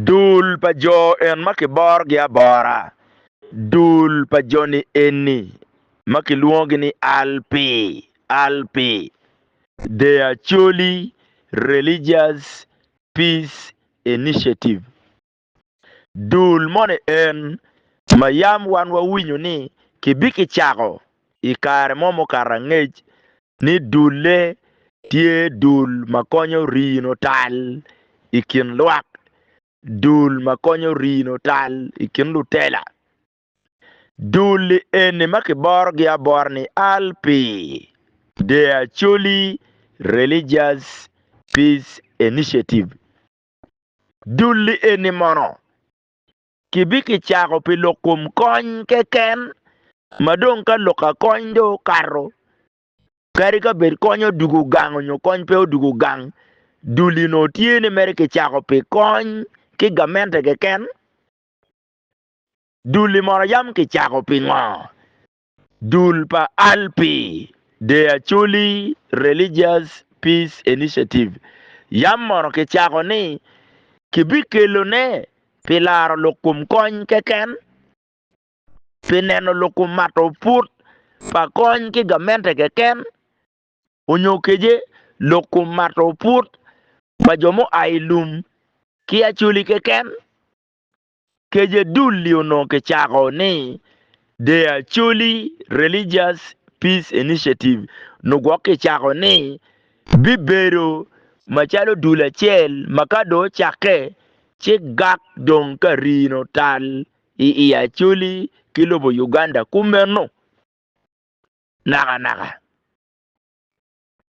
Dul pa jo en ma kiborogi abora, dul pa joni eni ma kilwongogi ni Alpi, Alpi, The Acholi Religious Peace Initiative. Dul moni en ma yam wan wawinyo ni kibikicako I kare mo mukato angec ni dulle tye dul ma konyo rino tal i kin lwak, dul ma konyo rino tal i kin lutela. Dul-li eni ma kiborogi abora ni ALPI, The Acholi Religious Peace Initiative. Dul-li eni mono Kibikicako pi lok kom kony keken, ma dong ka lok ka kony dong okato, kadi ka bed kony odwogo gang onyo kony pe odwogo gang, dul eno tye ni mere kicako pi kony ki gamente keken. Dul-li mono yam kicako pingo? Dul pa ALPI, The Acholi Religious Peace Initiative, yam mono kicako ni kibikelone pi laro lukum kony keken, pi neno lukum mato put pa kony ki gamente keken, onyo kece lukum mato put pa jo mua i lum ki Acholi keken. Kece dul-li onongo kicako ni The Acholi Religious Peace Initiative nyo gwok kicako ni bibedo macalo dul acel ma ka dong ocakke ci gak dong ka rino tal i i Acholi ki lobo Uganda kumeno nakanaka.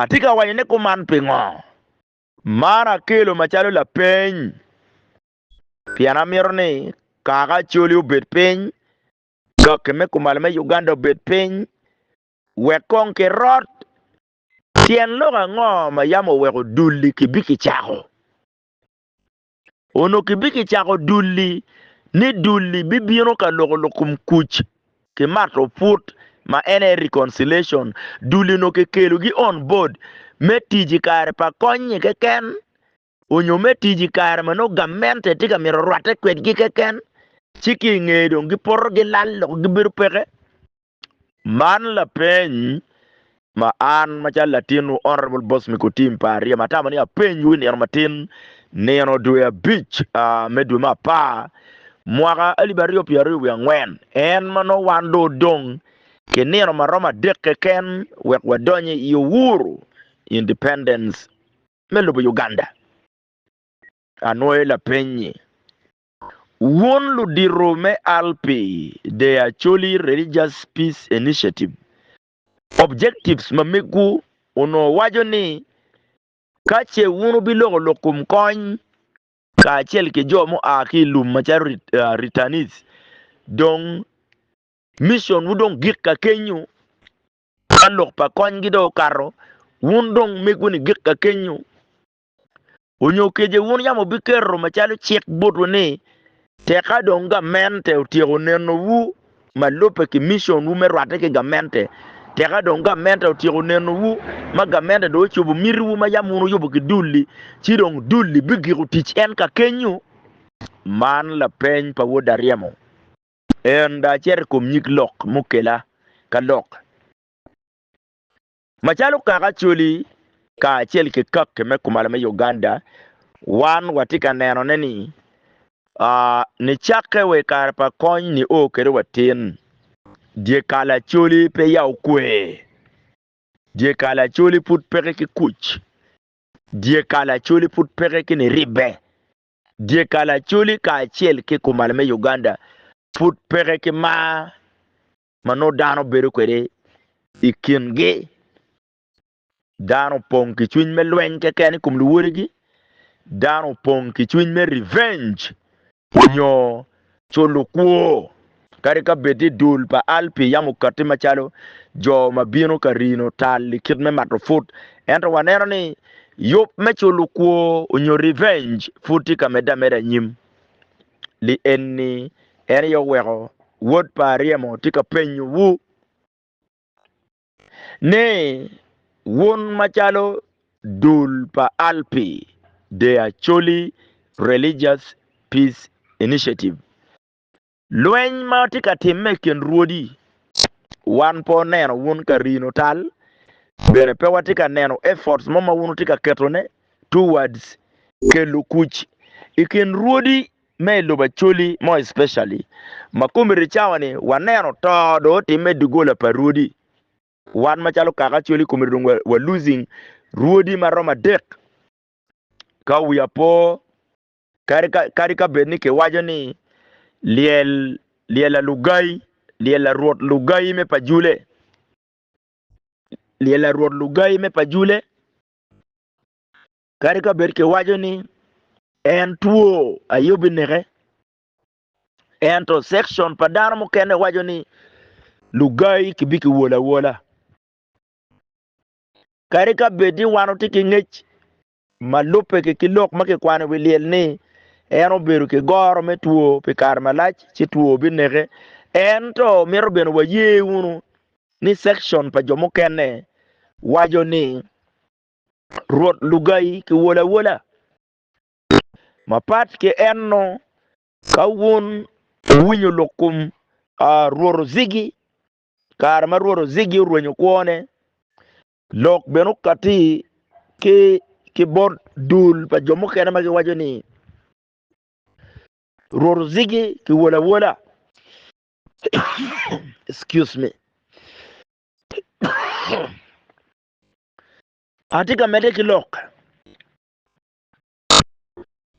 Atye ka waco ni kuman pingo? Man akelo macalo lapeny pien amito ni kaka Acholi obed piny, Doki me Kumalo me Uganda obed piny, wek kong kirot. Tyen lok ango ma yam oweko dul-li kibikicako? Onongo kibikicako dul-li ni dul-li bibino ka loko lukum kuc ki mato put ma en aye reconciliation. Dul-li onongo kikelogi on board me tic i kare pa kony-nyi keken onyo me tic i kare ma nongo gamente tye ka mito rwatte kwedgi keken ci ki i ngeye dong gipoto gilal loko gibedo peke. Man lapeny ma an macalo latinwu Honourable Boss Mikutim pa Aryem atamo ni apenywu i nino matin, nino dwe abic me dwe me apar mwaka alip aryo pye aryo wiye angwen, en ma nongo wan dong odong ki nino ma romo adek keken wek wadony i Uhuru, Independence, me lobo Uganda. Anwoyo lapeny-nyi. Wun ludito me al pi The Acholi Religious Peace Initiative, Objectives ma migwu onongo waco ni, Ka ce wun wubiloko lok kom kony kacel ki jo mua ki i lum macalo returnees, dong missionwu dong gik ka kenyu, ka lok pa konygi dong okato, wun dong migwu ni gik ka kenyu. Onyo kece wun yam wubiketo macalo cik botwu ni, tek ka dong gamente otyeko nenowu ma lubbe ki missionwu me rwatte ki gamente, tek ka dong gamente otyeko nenowu ma gamente dong ocobo mitiwu ma yam wun wuyubo ki dul-li, ci dong dul-li bigiko tic en kakenyu? Man lapeny pa wod aryemo. En da acito i kom nyig lok mukela ka lok. Macalo kaka Acholi kacel ki kaki me kumalo me Uganda, wan watye ka nenone ni nicakke wa i kare pa kony nio kwede watin, dyekal Acholi pe ya okwe, dyekal Acholi pud peke ki kuc, dyekal Acholi pud peke ki niribbe, dyekal Acholi kacel ki kumalo me Uganda pud peke ki mar ma nongo dano bedo kwede i kingi. Dano opong ki cwiny me lweny keken i kom luwodigi. Dano opong ki cwiny me revenge nyo culo kwo. Kadi ka bed ni dul pa Alpi yam okatti macalo jo ma bino ka rino tal i kit me mato put, ento waneno ni yub me culo kwo nyo revenge pud tye ka medde ameda anyim. li enni, en aye oweko wod pa aryemo tye ka penyowu ni, Wun macalo dul pa alpi, the Acholi Religious Peace Initiative, lweny ma tye ka timme i kin rwodi, wan pe oneno wun ka rino tal, bene pe watye ka neno efforts mo ma wun wutye ka ketone towards kelo kuc i kin rwodi me i lobo Acholi more especially ma community cawa ni waneno to dong otimme dogola pa rwodi wan macalo kaka Acholi community dong wa losing rwodi ma romo adek ka wiya po kadi ka kadi ka bed ni kiwaco ni lyel lyel alugai lyel arwot lugai me pa jule lyel arwot lugai me pa jule Kadi ka bed kiwaco ni en two aye obineke, ento sekcon pa dano mukene waco ni lugai kibikiwolo awola. Kadi ka bed ni wan watye ki ngec ma lubbe ki ki lok ma kikwano i wi lyel ni en obedo ki goro me two pi kare malac ci two obineke, ento mito bene waye wunu ni sekcon pa jo mukene waco ni Rwot Lugayi kiwolo awola. Mapat ki enno, ka wun wuwinyo lok kom Rwot Ozigi kare ma Rwot Ozigi orwenyo kwone, lok bene okatti ki bot dul pa jo mukene ma giwaco ni Rwot Ozigi kiwolo awola. Excuse me. Atye ka medde ki lok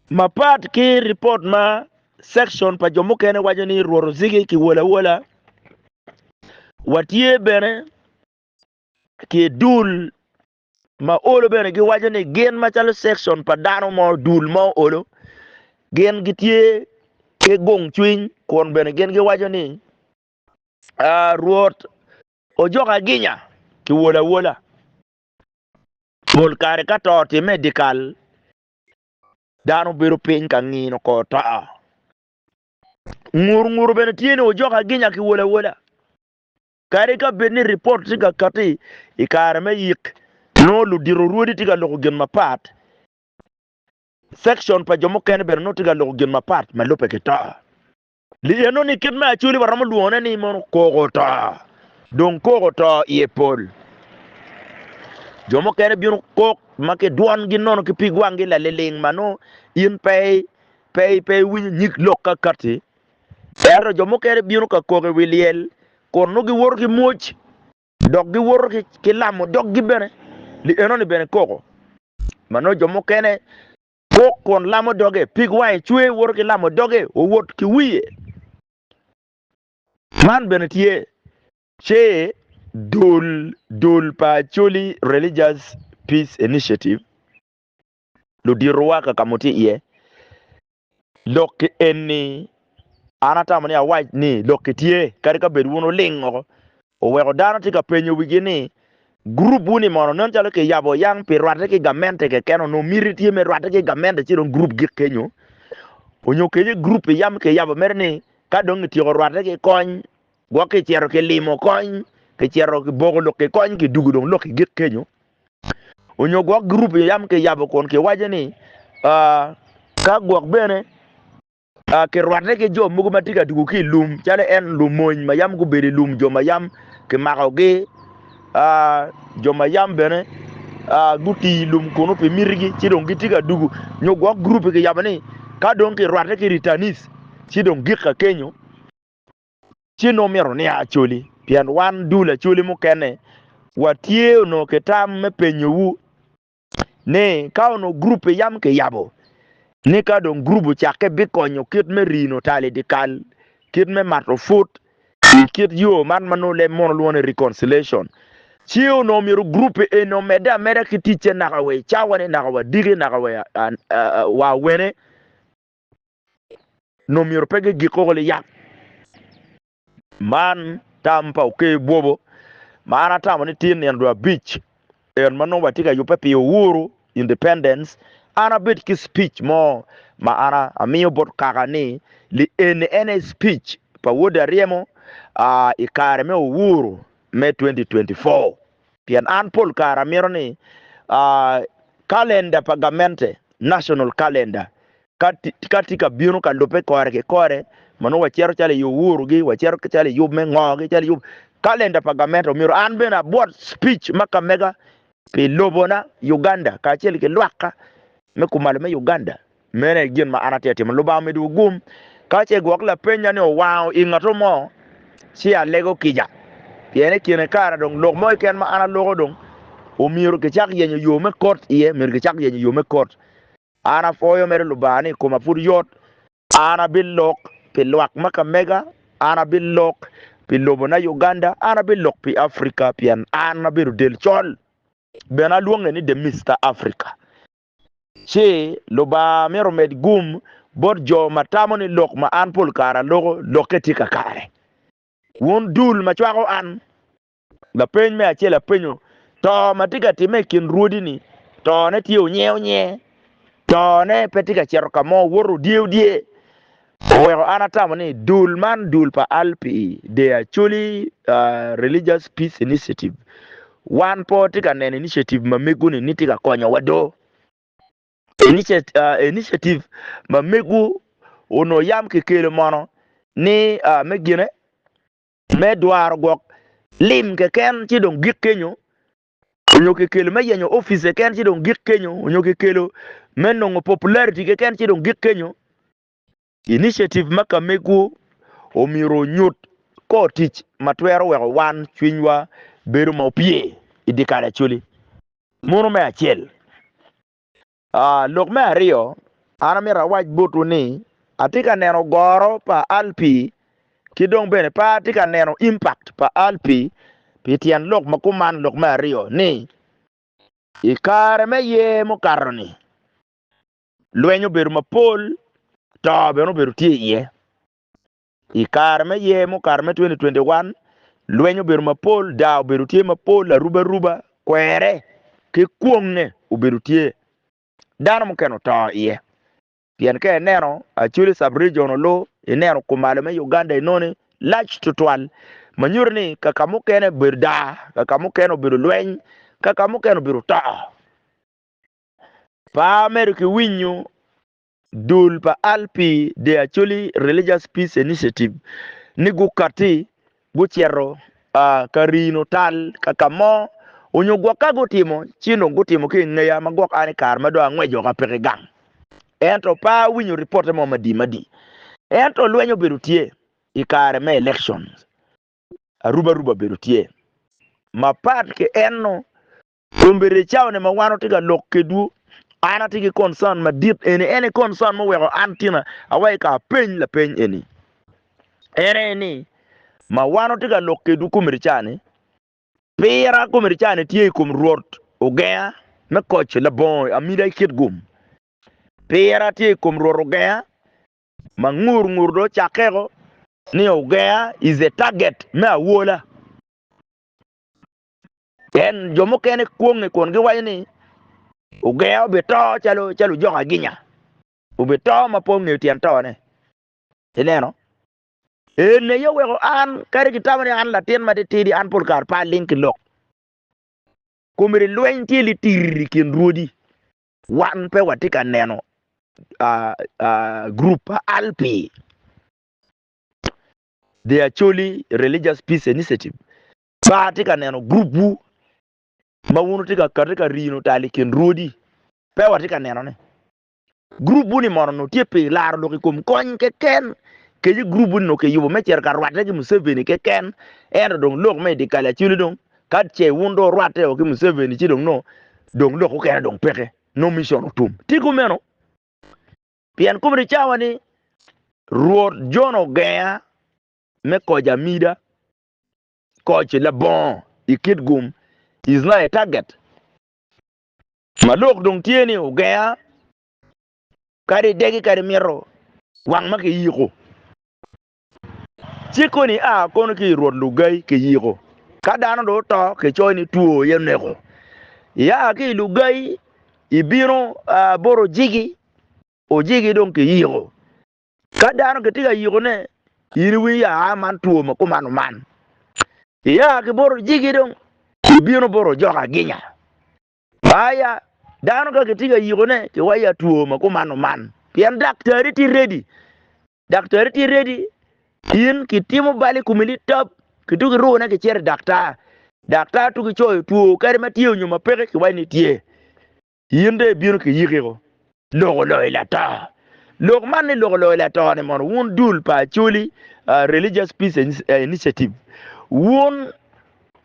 mapat ki ripot ma section pa jo mukene waco ni rworo zigi ki wola wola watye bene ki dul ma olo bene giwaco ni gin macalo sekcon pa dano mo, dul mo olo, gin gitye ki gung cwiny kun bene gin giwaco ni ah, Rwot ojoko aginya ki wol awola. Pol kare ka to otimme i dyekal, dano bedo piny ka ngino kor to. Ngur nguto bene tye ni ojoko aginya ki wol awola. Kadi ka bed ni ripot tye ka kati i kare me yik, nongo ludito rwodi tye ka loko gin mapat. Sekcon pa jo mukene bene nongo tye ka loko gin mapat ma lubbe ki to. Li enoni kit me Acholi waromo lwongone ni mono koko to. Dong koko to iye pol. Jo mukene bino kok ma ki dwongi nono ki pig wanggi laliling ma nongo in pe iwinyo nyig lok ka kati. Ento jo mukene bino ka koko i wi lyel kun nongo giwoto ki mwoc, dok giwoto ki lamo doggi bene. Li enoni bene koko ma nongo jo mukene kok kun lamo doge, pig wange cwer, woto ki lamo doge, owot ki wiye. Man bene tye ce dul pa Acholi Religious Peace Initiative ludito wa ka kamo tye iye lok ki en ni an atamo ni awac ni lok ki tye kadi ka bed wun uling oko oweko dano tye ka penyo wigi ni group wuni mono nen calo ki yabo yang pi rwate ki gamente keken onongo miti tye me rwate ki gamente ci dong group gik kenyo onyo kenyo group pi yam ki yabo mere ni ka dong ityeko rwate ki kony gwok ki cero ki limo kony ki cero ki boko lok ki kony ki dugu dong lok ki gik kenyo onyo gwok group i yam ki yabo kun ki waco ni ka gwok bene ki rwate ki jo mogo ma tye ka tugo ki i lum calo en lumony ma yam gubedo i lum jo ma yam ki mako gi jo ma yam bene guti i lum kunu pi miti gi ci dong gi tye ka dugu nyo gwok group ki yabo ni ka dong ki rwate ki ritanis ci dong gika kenyo ci nongo myero nia acoli, pien wan dul acoli mukene watye onongo ki tam me penyowu ni ka onongo gurup pe yam kiyabo, ni ka dong gurup ocakke bikonyo kit me rino tal i dyekal, kit me mato put i kit yo man ma nongo leb mono lwongo ni reconciliation. Ci onongo myero gurup eni omedde ameda ki ticce naka wa i cawa-ni, naka wa diki, naka wa awene. nongo myero pe gigik koko liyang. Man tam pa oker bwobo ma an atamo ni tye nino dwe abic en ma nongo watye ka yubbe pi Uhuru Independence, an abedo ki speech mo ma an amiyo bot kaka ni li eni en aye speech pa Wode Aryemo i kare me Uhuru me 2024. pien an pol kare amito ni kalenda pa gamente, national calendar, ka tye ka bino ka lubbe kore ki kore ma nongo wacito calo i Uhuru-gi, wacito calo i yub me ngo-gi, calo i yub kalenda pa gamente omyero an bene abwot speech ma ka mega pi lobona Uganda kacel ki lwakka me kumalo me Uganda. Meno aye gin ma an atye ka timo. Lubanga omidowu gum ka ce gwok lapennya ni owango i ngatwu mo, ci alego kica. Pien i kine kara dong lok mo keken ma an aloko dong omyero kicak yenyo yo me kot iye, myero kicak yenyo yo me kot. An apwoyo mere Lubanga ni koma pud yot. An abilok pi lwak ma ka mega, an abilok pi lobona Uganda, an abilok pi Africa pien an abedo del col. Bene alwonge ni The Mister Africa. ci Lubanga myero omed gum bot jo ma tamo ni lok ma an pol kare aloko lokke tye kakare. Wun dul ma cwako an, lapeny me acel apenyo, To ma tye ka timme i kin rwodi-ni, tone tye onyeonye? Tone pe tye ka cito ka mo, woto odyeudyee? Oweko an atamo ni dul man dul pa Alpi they actually religious peace initiative wan pe watye ka neno initiative ma megu ni ni tye ka konyo wa do initiative ma megu onongo yam ki kelo mono ni me gine me dwaro gwok lim keken ci dong gik kenyo onyo kikelo me yenyo office keken ci dong gik kenyo onyo kikelo me nongo popularity keken ci dong gik kenyo initiative ma kamegwu omyero onyut kor tic ma twero weko wan cwinywa bedo ma opye i dye kare Acholi. Mono me acel. Aa, lok me aryo, an amito awac botwu ni, atye ka neno goro pa Alpi, ki dong bene pe atye ka neno impact pa Alpi, pi tyen lok ma kuman, lok me aryo, ni, i kare me yer mukato-ni, lweny obedo mapol, to bene obedo tye iye. I kare me year mukato me 2021, lweny obedo mapol, daa obedo tye mapol, arubaruba, kwere, ki kwongnge obedo tye. Dano mukene oto iye. Pien ka ineno actually sub-region olu, ineno kumalo me Uganda enoni lac tutwal ma nyuto ni ka ka mukene obedo daa, ka ka mukene obedo lweny, ka ka mukene obedo to. Pa mere kiwinyo Dul pa Al pi De Acholi Religious Peace Initiative ni gukatti gucito ka rino tal ka ka mo onyo gwok ka gutimo ci dong gutimo ki ingeya ma gwok an ikare ma dong angweco ka peke gang ento pe awinyo reporte mo madi madi ento lweny obedo tye ikare me elections aruba ruba obedo tye mapat ki eno Kombeddi i cawone ma wan watye ka lok kedwu, an atye ki concern madit eni. En aye concern ma oweko an tina awa i ka apeny lapeny eni. En aye ni, ma wan watye ka lok kedwu kombeddi cani, pira kombeddi cani tye i kom Rwot ogenga me koc labongo amida ki kit gum. Pira tye i kom Rwot ogenga ma ngur ngur dong ocakkeko ni ogenga is a target me awola. Pien jo mukene kwonge kun giwaco ni, Ogenga obito calo ojok aginya, obito ma pe ongeyo tyen tone. Ineno? En aye oweko an, kadi kitamo ni an latin matitidi, an pol kare pe aling ki lok. Komedi lweny tye litir i kin rwodi. Wan pe watye ka neno gurup pa Alpi, The Acholi Religious Peace Initiative, Ka atye ka neno gurupwu ma wun wutye ka kati ka rino tal i kin rwodi, pe watye ka neno ni gurupwu-ni mono onongo tye pi laro lok i kom kony keken, kadi gurupwu-ni onongo kiyubo me cito ka rwatte ki Museveni keken, ento dong lok me i dyekal acwali dong ka ce wun dong wurwatteo ki Museveni ci dong nongo dong lok mukene dong peke, nongo micon otum. Tye kumeno, pien kome ni cawa ni Rwot Jon ogenga me koca mida, koc labongo i kit gum is not a target ma lok dong tye ni ogenga kadi idegi kadi mito wang ma kiyiko cik koni a kono ki i rwot lugai kiyiko ka dano do oto kicoyo ni two aye oneko iya ki i lugai ibino boro jigi ojigi dong kiyiko Ka dano kitye ka yikone, in iwinyo ya aa man two ma kumano man. Ia ki boro jigi dong, ibino boro jok aginya. Aya, dano ka kitye ka yikone, kiwayo ya two ma kumano man. Pien daktari tye redi. Daktari tye redi, in kitimo bal i kumi ni tab, kituk irune kicito i daktar. Daktar tuk icoyo two kadi ma tye onyo ma peke kiwayo ni tye. In dong ibino ki yikiko loko loyo lato. Lok man ni loko loyo lato ni mono wun dul pa Acholi Religious Peace Initiative wun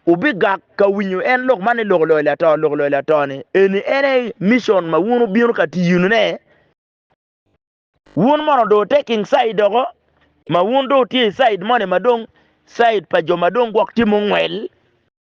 wubigak ka winyo en lok man ni loko loyo lato. Loko loyo lato ni eni en aye mission ma wun wubino ka tiyonu ne. Wun mono do taking side doko ma wun do tye side moni ma dong side pa jo ma dong gwok tye mungwel.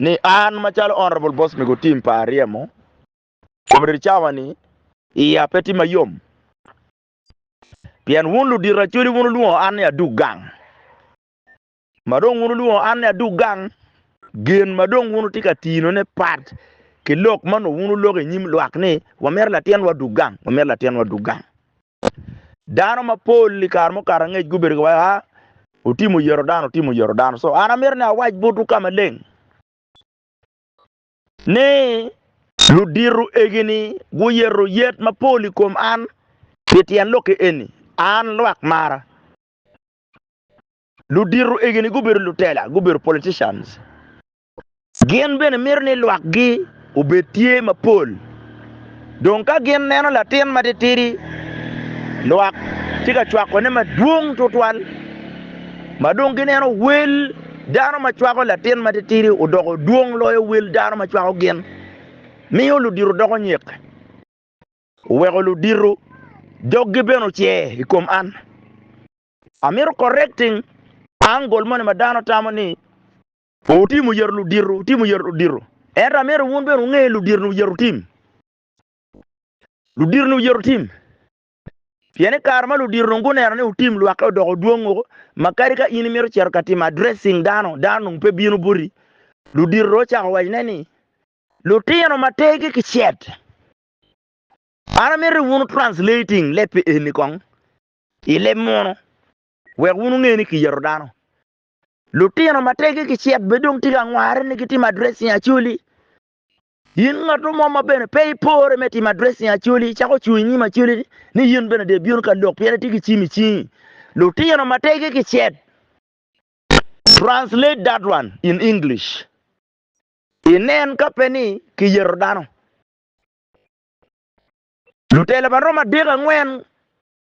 ni an macalo Honourable Boss Migo Tim pa aryemo comrade cawa ni iya pe tye mayom pien wun ludito Acholi wun wulwongo an ni adug gang ma dong wun wulwongo an ni adug gang gin ma dong wun wutye ka tino ne pat ki lok ma nongo wun wuloko i nyim lwak ni wamito latinwa dug gang wamito latinwa dug gang Dano mapol i kare mukato angec gubedo giwaco, a ah, otimo yero dano, otimo yero dano. So an amito ni awac botwu ka maleng ni ludito egini guyero yet mapol i kom an pi tyen lokke eni, an lwak mara. Ludito egini gubedo lutela, gubedo politicians. Gin bene mito ni lwakgi obed tye mapol. Dong ka gin neno latin matitidi lwak tye ka cwakone madwong tutwal ma dong gineno wel dano ma cwako latin matitidi odoko dwong loyo wel dano ma cwako gin, miyo ludito doko nyek. Oweko ludito doggi bene ocer i kom an. Amito correcting angle moni ma dano tamo ni Wutimo yero ludito, wutimo yero ludito. Ento amito wun bene wunge ludito ni wuyero wutim. Ludito ni wuyero wutim. Pien i kare ma ludito dong guneno ni wutim lwakke odoko dwong woko, ma kadi ka in imito cito ka timo addressing dano, dano dong pe bino boti. Ludito dong ocako wacone ni, Lutino ma tergi kicet, an amito ni wun translating leb pi eni kong i leb munu, wek wun wunge ni kiyero dano. Lutino ma teggi gicek bene dong tye ka ngwarre ni gitimo addressing Acholi. In ngat mo ma bene pe ipore me timo addressing Acholi, icako cung i nyim Acholi ni, ni in bene de ibino ka lok pien itye ki cim i cingi. Lutino ma teggi gicek. Translate that one in English. Inen ka pe ni kiyeto dano. Lutela ma romo adek angwen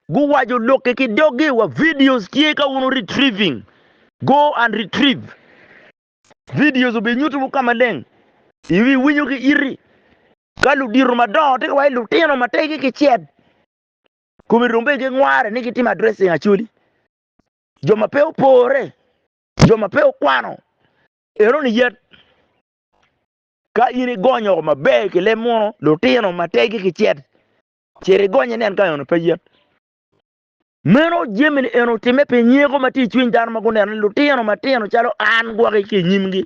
Guwaco lokke ki doggi wa videos tye ka wunu retrieving go and retrieve videos obi nyutu wu ka maleng iwi winyo ki iti ka ludito madongo tye ka waco lutino mategi ki cet kome dong bene gingware ni gitimo addressing actually jo ma pe opore jo ma pe okwano eno ni yet ka in igonyo maber ki leb muno lutino mategi ki cet Cit igony inen ka eno pe yen. Meno jami-ni eno otimme pi nyeko ma tye i cwiny dano ma guneno ni lutino matino calo an gwoki ki i nyimgi.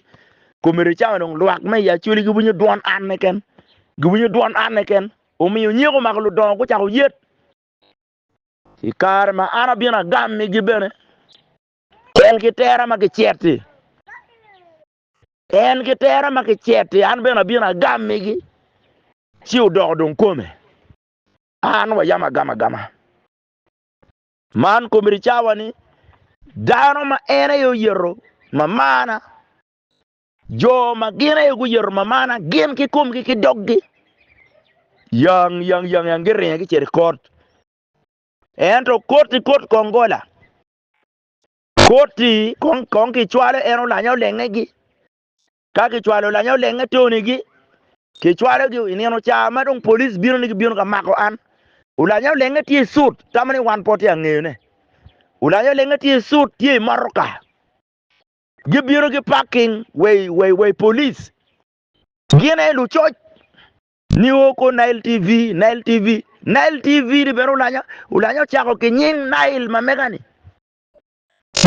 Komedo cawa dong lwak me i Acholi giwinyo dwon an keken. Giwinyo dwon an keken. Omiyo nyeko omako ludongo gucako yet. I kare ma an abino agammigi bene tel ki tera ma gicet-ti. En ki tera ma kicet-ti, an bene abino agammigi, ci odoko dong kome. Man wayam agama agama. Man komedi cawa ni dano ma en aye oyeto mamana, jo ma gin aye guyeto mamana gin ki komgi ki doggi, yang yang yang yang giringe gicito i kot. Ento koti kot kongola, Koti kong kong kicwalo en olanya olengegi. Ka kicwalo olanya olenge tonigi, kicwalogi i nino ca ma dong police bino ni gibino ka mako an. Olanya olenge tye i suit, tamo ni wan po tye angeyone. Olanya olenge tye i suit, tye i motoka. Gibino ki parking wa i, wa i, wa i police. Gin aye lucoc. Ni o ko Nile TV, Nile TV. Nile TV-ni bene olanya, olanya ocako ki nying Nile ma mega-ni.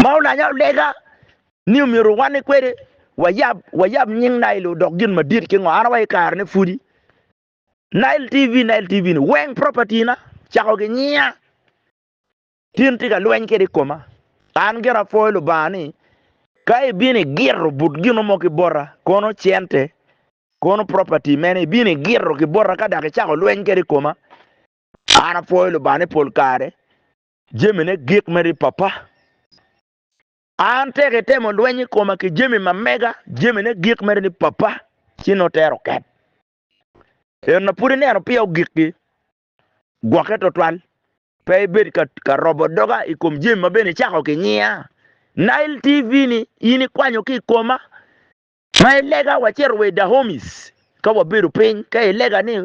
ma olanya olega ni omyero owanne kwede, wayab, wayab nying Nile odok gin madit ki ngo? An awaco i kare ne pudi, Nile TV, Nile TV ni weng property na, cako gi nyinga, tin tye ka lweny kede i koma. An gire apwoyo Lubanga ni, ka ibino igiro but gino mo ki bota, kono cente, kono property mene, ibino igiro ki bota ka dok icako lweny kede i koma, an apwoyo Lubanga ni pol kare, jamine gik mere i pappa. An tek itemo lweny i koma ki jami ma mega, jamine gik mere ni pappa, ci nongo tero oket. En na pud ineno piyo gikki, gwokke twatwal, pe ibed ka, ka robo doga i kom jami ma bene icako ki nyiya. Nile TV-ni in ikwanyo ki i koma, Ma i lega wacito wa i Dahomis ka wabedo piny, ka i lega ni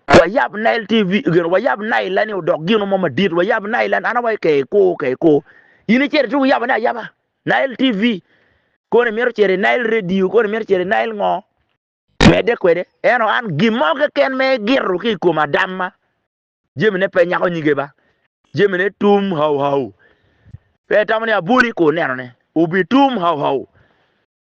wayab Nile TV, gin wayab Nile la ni odok gino mo madit, wayab Nile la an awai ke ko ke ko. Ini cere tu yaba ne ayaba Nile TV, koni mito cere Nile Radio, koni mito cere Nile ngo. Mede kwede, eno an gin mo keken me giro ki i kom adam ma jemi ne pe nyako nyige ba, jemi ne tum hau hau. Pe itamo ni aboli ko neno ne, obi tum hau hau.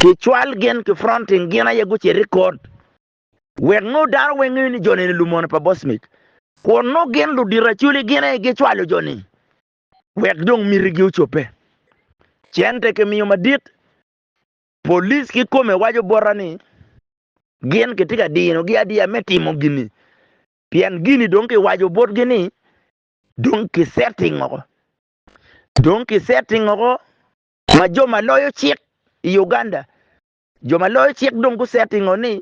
Ki cwal gin ki fronting gin aye gucit i kot, wek nongo dano weng ngeyo ni joni ni lumono pa Bosmik. Kun nongo gin ludito aculi gin aye gicwalo joni wek dong miti gi ocobbe. Cente ki miyo madit, police ki kome waco bota ni gin kitye ka dino gi adiya me timo gini pien gini dong ki waco bot gi ni dong ki setting oko. Dong ki setting oko Ma jo ma loyo cik i Uganda, jo ma loyo cik dong gusettingo ni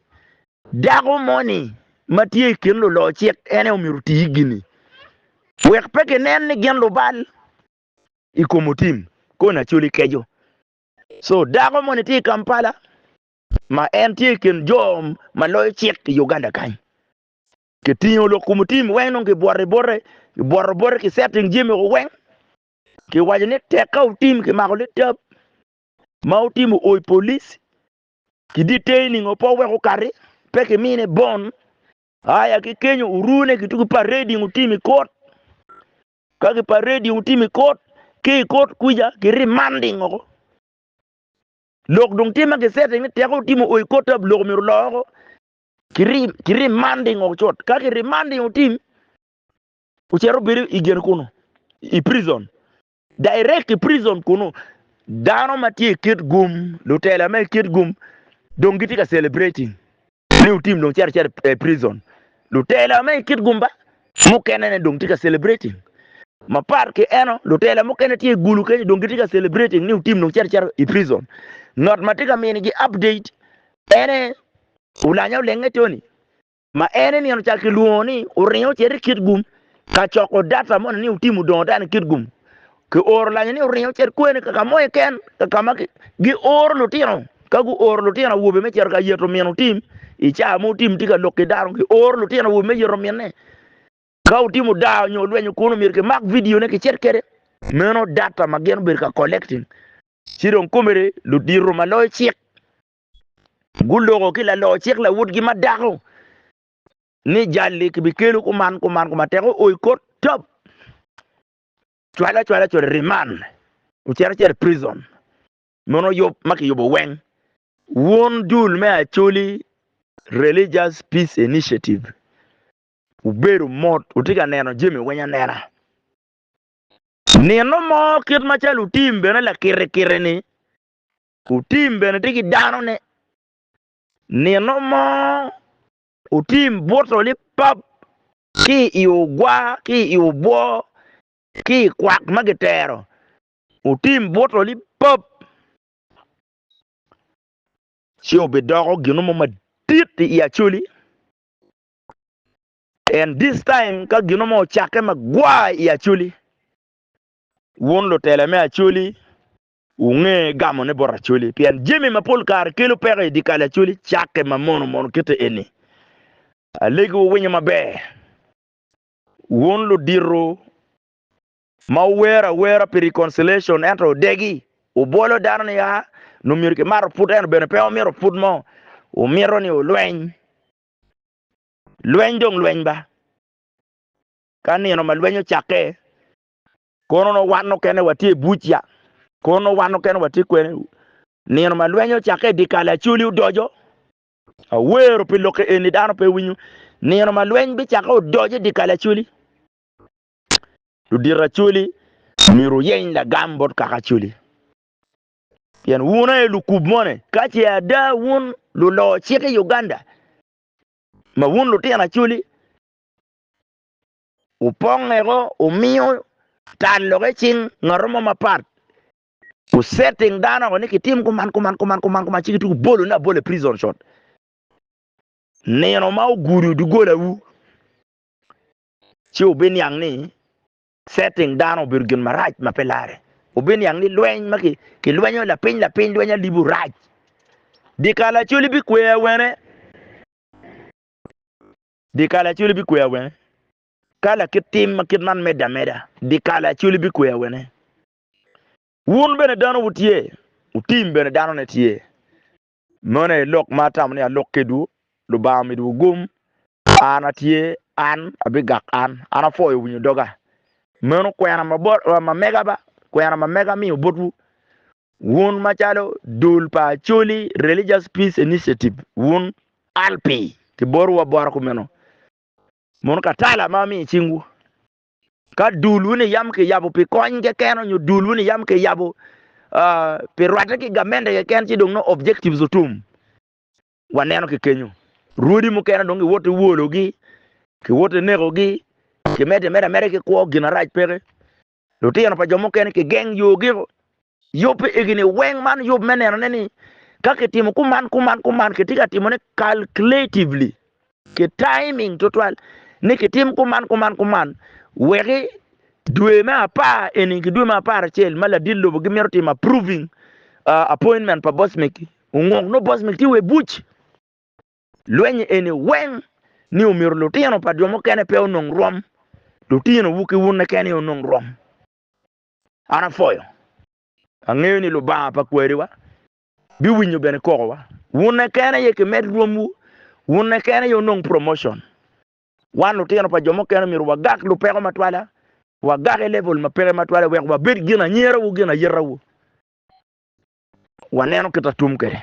dako moni ma tye i kin luloyo cik en aye omyero oti gini wek pe kinen ni gin lubal i kom otim koni acoli keco. So dako moni tye i Kampala ma en tye i kin jo ma loyo cik i Uganda kany. Kitingo lok kom otim weng dong kibwoto bote, kibwoto bote ki setting jami weng Kiwaco ni tek ka otim kimako litab ma otimo ooi polis ki detaining o po wek okati pe kimine bond aya ki kenyo orune ki tuku parading otim i kot ka ki parading otim i kot ki i kot kwica ki remanding oko lok dong tye ma ki setting ni tek ka otimo ooi kot tab lok myero oloo oko ki remanding oko cut ka ki remanding otim Ocito obedo i gin kunu i prison, direct i prison kunu. Dano ma tye i kit gum, lutela ma i kit gum dong gitye ka celebrating ni Otim dong cito acita i prison. Lutela ma i kit gum ba mukene ne dong tye ka celebrating. Mapat ki eno, lutela mukene tye i gulu kenyo dong gitye ka celebrating ni Otim dong cito acita i prison. Ngat ma tye ka minigi update ene Olanya Olenge Tony. ma en eni ocako kilwongo ni oringo ocito i kit gum ka coko data moni ni otim odongo dano i kit gum. Kioro lanyo ni oringo ocito kweni kaka mo iken kaka ma gioro lutino ka guoro lutino awobe me cito ka yeto min otim i caa mo otim tye ka lok ki dano gioro lutino awobe me yeto minne ka otimo daa nyo olwenyo kunu myero kimak vidione kicit kwede meno data ma gin obedo ka collecting ci dong komere ludiro ma loyo cik Guloko ki lalocik lawotgi ma dako ni jal-li kibikelo kuman kuman kuma tek oi kot top, cwale acwala cito i riman, ocito acita i pricon. Mono yub ma kiyubo weng. Wun dul me Acholi Religious Peace Initiative wubedo mot, wutye ka neno jami weng anena. Nino mo kit macalo wutim bene lakite kite-ni, Otim bene tye ki danone. Nino mo, otim buto lipap ki i ogwa, ki i obwo, ki i kwak ma gitero. Otim buto lipap, ci obidoko gino mo madit i Acholi. And this time ka gino mo ocakke magwar i Acholi, wun lutela me Acholi Wunge gamone bot Acholi, pien jami ma pol kare kelo peko i dyekal Acholi cakke ma mono mono kite eni. Alegi wuwinyo maber, wun ludito ma wuwer awera pi reconciliation ento wudegi, wubwolo dano ni a nongo myero kimato put ento bene pe wumito put mo, wumito ni wulweny. Lweny dong lweny ba, ka nino ma lweny ocakke, Kono onongo wan mukene watye i buca. Kono onongo wan mukene watye kwene. Nino ma lweny ocakke i dyekal acoli odoco. Awero pi lokke eni dano pe winyo. Nino ma lweny bicakke odoco i dyekal acoli. Ludito acoli myero wuyeny lagam bot kaka acoli. Pien wun aye lukub moni. Ka ce ada wun luloo cik i Uganda ma wun lutino acoli, wupongeo wumiyo tal lok i cing ngato mo mapat wu setting dano ni kitim kuman kuman kuman kuman kuman ci gitye kubolo ne abola i prison shot nino ma ogudo dogolawu ci wubiniang ni setting dano obedo gin marac ma pe lare wubiniang ni lweny ma kilwenyo lapiny lapiny lweny alibu rac dikal acoli bikwer wene Dyekal Acholi bikwe awene? Ka lakit tim ma kit man medde ameda, dyekal Acholi bikwe awene? Wun bene dano wutye, wutim bene danone tye. Meno aye lok ma atamo ni alok kedwu, Lubanga omidowu gum, An atye, an abigak an, an apwoyo winyo doga. Meno kwena ma mega ba, kwena ma mega amiyo botwu. Wun macalo dul pa Acholi Religious Peace Initiative, wun ALPI, kiborowa boro kumeno. Mono ka tala ma amiyo i cingwu. Ka dul wun iyam kiyabo pi kony keken onyo dul wun iyam kiyabo pi rwatte ki gamende keken ci dong nongo objectives otum. Waneno ki kenyo. Rwodi mukene dong kiwoto iwologi, kiwoto inekogi, kimedo imedo ameda ki kwo, gin arac peke. Lutino pa jo mukene kigeng yogio. Yub pe egi ni weng man yub me nenone ni ka kitimo kuman kuman kuman kitye ka timone calculatively ki timing tutwal ni kitim kuman kuman kuman weki dwe me apar eni ki dwe me apar acel ma ladit lobo gimito timo approving uh, appointment pa boss meki unguk no boss meki tye we buc Lweny eni weng ni omyero lutino pa jo mukene pe onong rwom, lutino wu ki wun keken aye onong rwom. An apwoyo, angeyo ni Lubanga pa kwariwa bi winyo bene koko wa. Wun keken aye ki med rwom wu, wun keken aye onong promotion. Wan lutino pa jo mukene omyero wa gak lupeko matwala, wa gak i level ma peke matwala wek wa bed gin anyira wu gin ayita wu. Wa neno kita tum kede.